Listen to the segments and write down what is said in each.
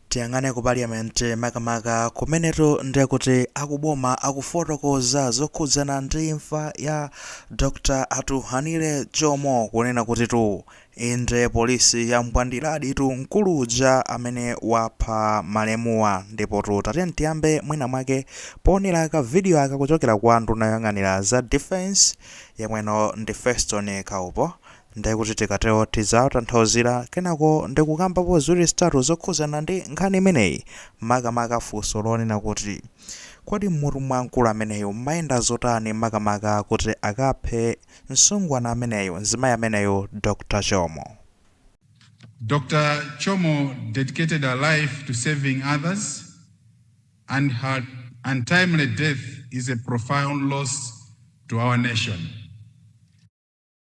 Tiyang'ane ku parliament makamaka kumenetu ndiye kuti akuboma akufotokoza zokhudzana ndi imfa ya Dr Atughanile Chomo kunena kutitu inde polisi yambwandiladitu mkulu uja amene wapha malemuwa ndipotu tatiyeni tiyambe mwina mwake poonera ka video aka kuchokera kwa nduna yoyang'anira za defence yemweno ndi Feston Kaupo Nde kuti tikatero tidzawatanthauzira kenako ndikukambapo ziwiri zitatu zokhuzana ndi nkhani imeneyi makamaka funso lonena kuti Kodi mmutu mwa mkulu ameneyo mmayenda zotani makamaka kuti akaphe msungwana ameneyo, mzimayi ameneyo Dr Chomo. Dr Chomo dedicated her life to serving others and her untimely death is a profound loss to our nation.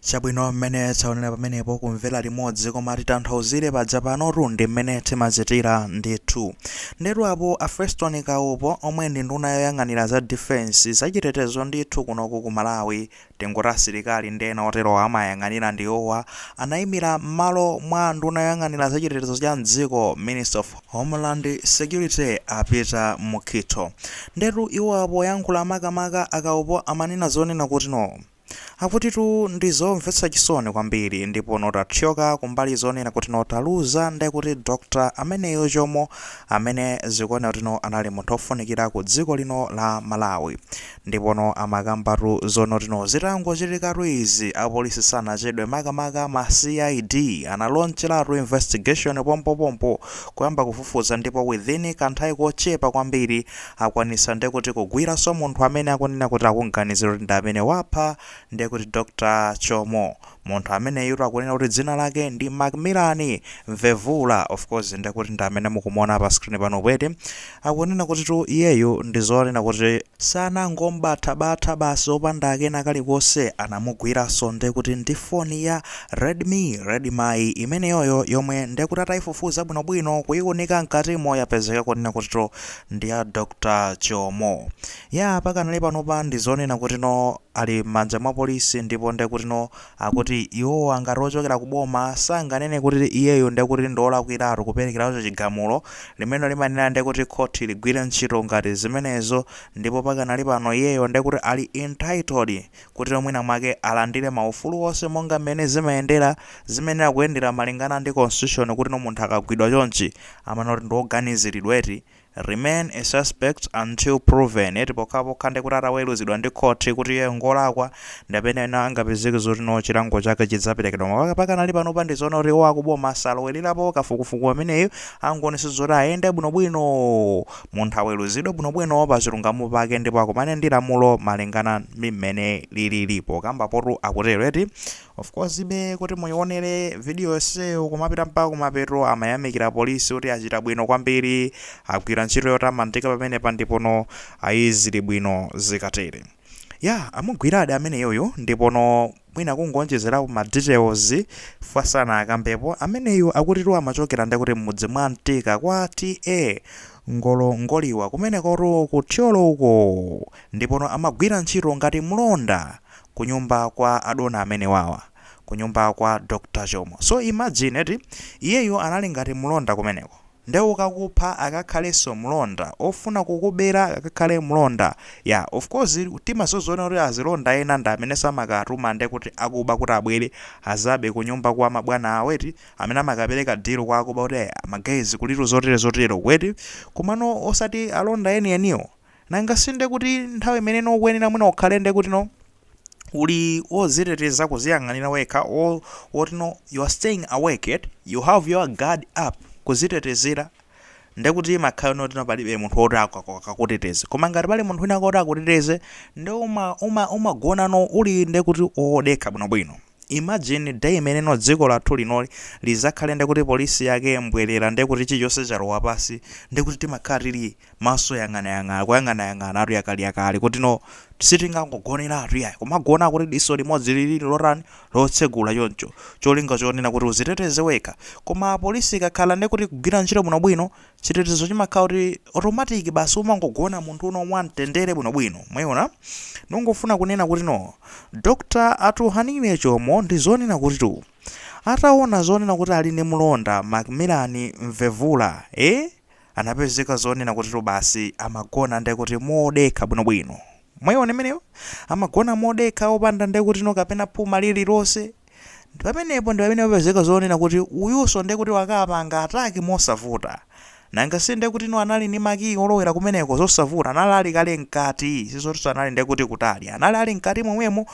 chabwino mmene taonera pamenepo kumvera limodzi koma titanthauzire paja panotu ndi mmene timachitira ndithu ndetu apo a Feston Kaupo omwe ndi nduna yoyang'anira za defense zachitetezo ndithu kunoku ku Malawi tingoti asilikali ndi ena otero amayang'anira ndiwowa anayimira m'malo mwa nduna yoyang'anira zachitetezo cha mdziko Minister of Homeland security a Peter Mukhito ndetu iwowa poyankhula makamaka a Kaupo amanena zonena kuti no. Akutitu ndi zomvetsa chisoni kwambiri ndipo no tathyoka kumbali zonena kuti no taluza ndekuti Dr ameneyo Chomo amene zikuoneka kuti no anali munthu ofunikira ku dziko lino la Malawi Ndipono amakambatu zonotino zitangochitikatu izi apolisi sanachedwe makamaka ma CID analonchelatu investigation pompopompo kuyamba kufufuza ndipo within kanthawi kochepa kwambiri akwanisa ndekuti kugwiranso munthu amene akunena kuti akumganizira kuti ndi amene wapha ndekuti Dr Chomo Munthu ameneyutu akunena kuti dzina lake ndi Macmillan Mvevula, of course nde kuti ndi amene mukumuona pa screen panopo eti, akunena kutitu iyeyo ndi zonena kuti, sanangom'batha-batha basi opanda kena kalikonse, anamugwiranso nde kuti ndi foni ya Redmi, Redmi imeneyoyo yomwe nde kuti ataifufuza bwinobwino, kuiunika mkatimo yapezeka kunena kutitu ndi ya Dr Chomo. Yaa pakanali panopa ndizonena kutino ali mmanja mwa polisi ndipo ndekutino akuti iwowa ngati ochokera ku boma sanganene kuti iyeyo ndekuti ndiolakwiratu kuperekeratu chigamulo limene limayenera ndekuti khoti ligwire ntchito ngati zimenezo ndipo pakanali pano iyeyo ndekuti ali entitled kutino mwina mwake alandire maufulu onse monga mmene zimayendera zimayenera kuyendera malingana ndi constitution kutino munthu akagwidwa chonchi amanena kuti ndioganiziridwa eti remain a suspect until proven eti pokhapokha ndekuti ataweluzidwa ndi khothi kuti iyeyo ngolakwa ndipamene ena angapezeke zoti no chilango chake chidzaperekedwa koma pakanali panopa ndizoona kuti iwo akuboma asalowelerapo kafukufuku ameneyu angoonesa zoti ayende bwinobwino munthu aweluzidwe bwinobwino pachilungamo pake ndipo akumane ndi lamulo malingana ndi mmene lilili pokambapotu akutero eti Of course be kuti muionere video yonseyo kumapita mpaka kumapeto amayamikira polisi kuti achita bwino kwambiri agwira ntchito yotamandika pamenepa ndipono ayi zili bwino zikatere ya amugwiradi ameneyoyo ndipono mwina kungonjezerapo ma details sanakambepo ameneyu akutitu amachokera ndekuti m'mudzi mwa mtika kwa ta ngolongoliwa kumenekotu ku thyolo uko ndipono amagwira ntchito ngati mlonda kunyumba kwa adona amenewawa kunyumba kwa Dr Chomo so imagine eti iyeyo anali ngati mlonda kumeneko nde okakupha akakhalenso mlonda ofuna kukubera akakhale mlonda ya of course timasoziona kuti azilonda ena ndi amenenso amakatuma nde kuti akuba kuti abwere azabe kunyumba kwa mabwana awo eti amene amakapereka deal kwa akuba kuti eh, ma guys kulitu zotere zotere kweti komano osati alonda enieniwo Nanga si nde kuti nthawi imene ino ukuyenera mwina ukhale nde kuti no uli wodziteteza kuziyang'anira wekha wo, woti no you are staying awake eti you have your guard up kudzitetezera nde kuti imakhala yoti no palibe munthu woti aku- aku- akakuteteze koma ngati pali munthu wina woti akuteteze nde uma, uma, umagona no uli nde kuti wodekha bwinobwino imagine day imene no dziko lathu linoli lizakhale nde kuti polisi yake mbwerera nde kuti chilichonse chalowa pasi nde kuti timakhala tili maso yang'anayang'ana kuyang'anayang'anatu yakaliyakali kuti no sitingangogoneratu yayi kumagona kuti diso limodzi lilili lotani lotsegula choncho cholinga chonena kuti uziteteze wekha koma polisi ikakhala ndekuti ikugwira ntchito bwinobwino chitetezo chimakhala kuti automatic basi umangogona munthu uno mwamtendere bwinobwino mwayiona ndongofuna kunena kuti no dr atughanile chomo ndi zonena kuti tu ataona zonena kuti ali ndi mlonda macmillan mvevula eh? anapezeka zonena kutitu basi amagona ndekuti modekha bwinobwino mwaiona imeneyo amagona modekha opanda ndekutino kapena phuma lililonse ndi pamenepo ndi pamene papezeka zonena kuti uyunso ndekuti wakapanga ataki mosavuta nanga si ndekutino anali ndi makiyi olowera kumeneko zosavuta anali ali kale mkati sizotinso anali ndekuti kutali anali ali mkati momwemo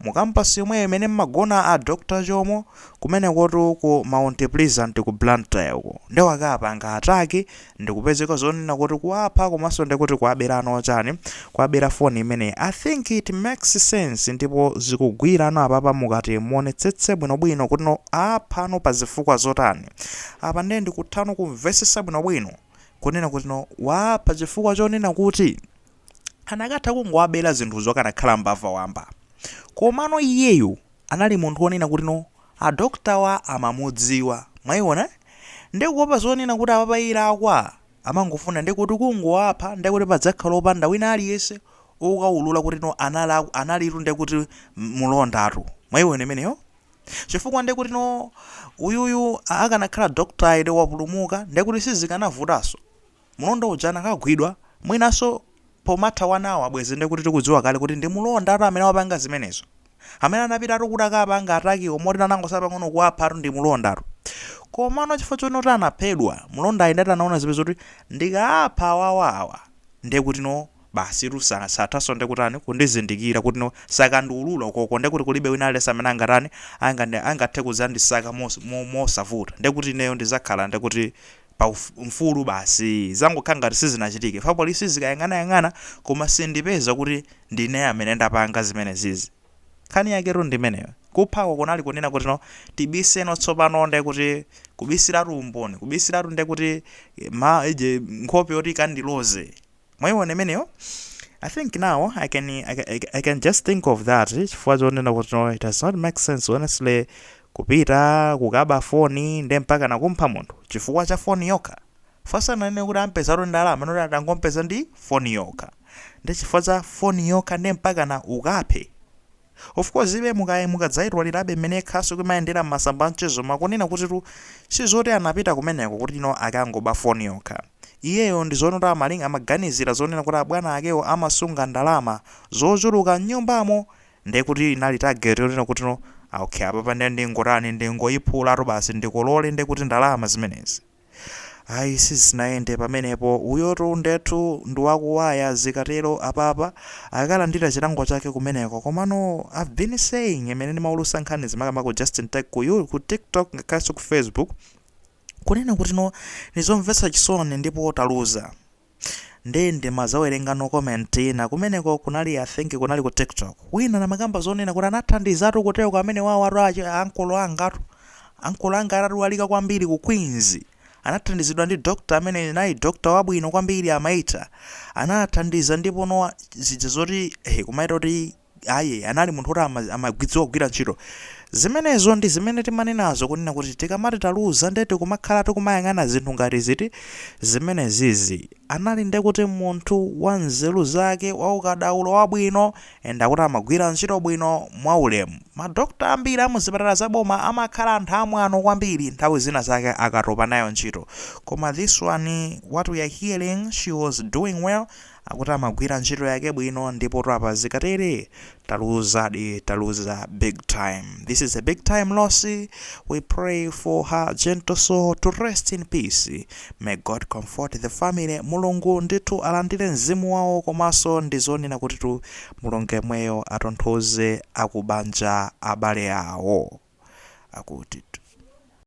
mu kampasi yomweyo imene mmagona a dr chomo Kumenekotu ku Mount Pleasant ku Blantyre uko nde wakapanga attack ndikupezeka zonena kuti kuwapha komanso nde kuti kuwaberano chani, kuwabera phone imeneyi. I think it makes sense ndipo zikugwirano apapa mukati muonetsetse bwinobwino kutino aaphano pa zifukwa zotani. Apa nde ndikuthano kumvesesa bwinobwino kunena kutino waapha chifukwa chonena kuti anakatha kungowabera zinthuzo akanakhala mbava wamba. Komano iyeyu anali munthu wonena kuti no a doctorwa amamudziwa mwaiona nde kuopa zonena kuti apapayi akwa amangofuna nde kuti kungowapha nde kuti padzakhala opanda wina aliyese okaulula kuti no analakw analitu nde kuti mulondatu mwaiona imeneyo chifukwa nde kuti no uyuyu akanakhala doctoryu wapulumuka nde kuti sizikanavutaso Mlonda uja anakagwidwa, mwinanso pomatha one hour bwezi nde kuti tikudziwa kale kuti ndi mlondatu amene wapanga zimenezo. Amene anapitatu kuti akapanga attack wo moti anangosala pang'ono kuwaphatu ndi mlondatu. Komano chifukwa choona kuti anaphedwa, mlondayi ndati anaona nzeru zake kuti ndikaapha awawa awa nde kuti no basitu sa sathanso nde kutani kundizindikira kuti no sakandiulula ukoko nde kuti kulibe wina aliyense amene angatani angandi angathe kudzandisaka mos mo mosavuta nde kuti ineyo ndizakhala nde kuti pa uf, mfulu basi zangokhala ngati sizinachitike chifukwa police izikayang'anayang'ana koma sindipeza kuti ndine amene ndapanga zimenezizi nkhani yaketu ndimeneyo kuphako kunali kunena kuti no tibiseno tsopano nde kuti kubisiratu umboni kubisiratu nde kuti ma ije nkhope yoti ikandiloze mwaiona imeneyo i think now i can, I can, I can- I can just think of that chifukwa chonena kuti no, it does not make sense honestly kupita kukaba foni nde mpaka nakumpha munthu chifukwa cha foni yokha fa asananene kuti ampezatu ndalama amanena atangompeza ndi foni yokha nde chifukwa cha foni yokha nde mpaka na ukaphe Of course ibe mukaye mukadzaitwalirabe mmene khasu kimayendera mmasamba anchezo makunena kutitu sizoti anapita kumeneko kuti no akangoba phone yokha. Iyeyo ndizonena kuti amaling amaganizira zonena kuti abwana akewo amasunga ndalama zochuluka mnyumbamo ndekuti inali target yonena kuti no okay apapa nde ndingotani ndingoyiphulatu basi ndikolole ndekuti ndalama zimenezi. ayi sizinayende pamenepo uyotu ndetu ndiwakuwaya zikatero apapa akalandira chilango chake kumeneko komano i've been saying imene ndimaulusa nkhani zimenezi ku justin tech ku, you, ku tiktok ngakhalenso ku facebook kunena kutino ndizomvetsa chisoni ndipo taluza Nde ndimazawerengano comment ina kumeneko kunali I think kunali ku tiktok wina namakamba zonena kuti anathandizatu kuteroko amenewawatu achi ankolo angatu ankolo anga atadwalika kwambiri ku Queens anathandizidwa ndi doctor amene nayi doctor wabwino kwambiri amaita anathandiza ndipo no zija zoti eh kumaita kuti Ayi, anali munthu woti ama- amadziwa kugwira ntchito. Zimenezo ndi zimene timanenazo kunena kuti tikamati taluza ndiye kuti timakhala tikumayang'ana zinthu ngati ziti zimenezizi. Anali ndi kuti munthu wa nzeru zake, waukadaulo wabwino and akuti amagwira ntchito bwino mwaulemu. Madokotala ambiri a muzipatala za boma amakhala anthu amwano kwambiri nthawi zina zake akatopa nayo ntchito. Koma this one what we are hearing she was doing well Akuti amagwira ntchito yake bwino ndipotu apa zikatere taluzadi taluza big time this is a big time loss we pray for her gentle soul to rest in peace may god comfort the family mulungu ndithu alandire mzimu wawo komanso ndi zonena kutitu mulungu yemweyo atonthoze akubanja abale awo akuti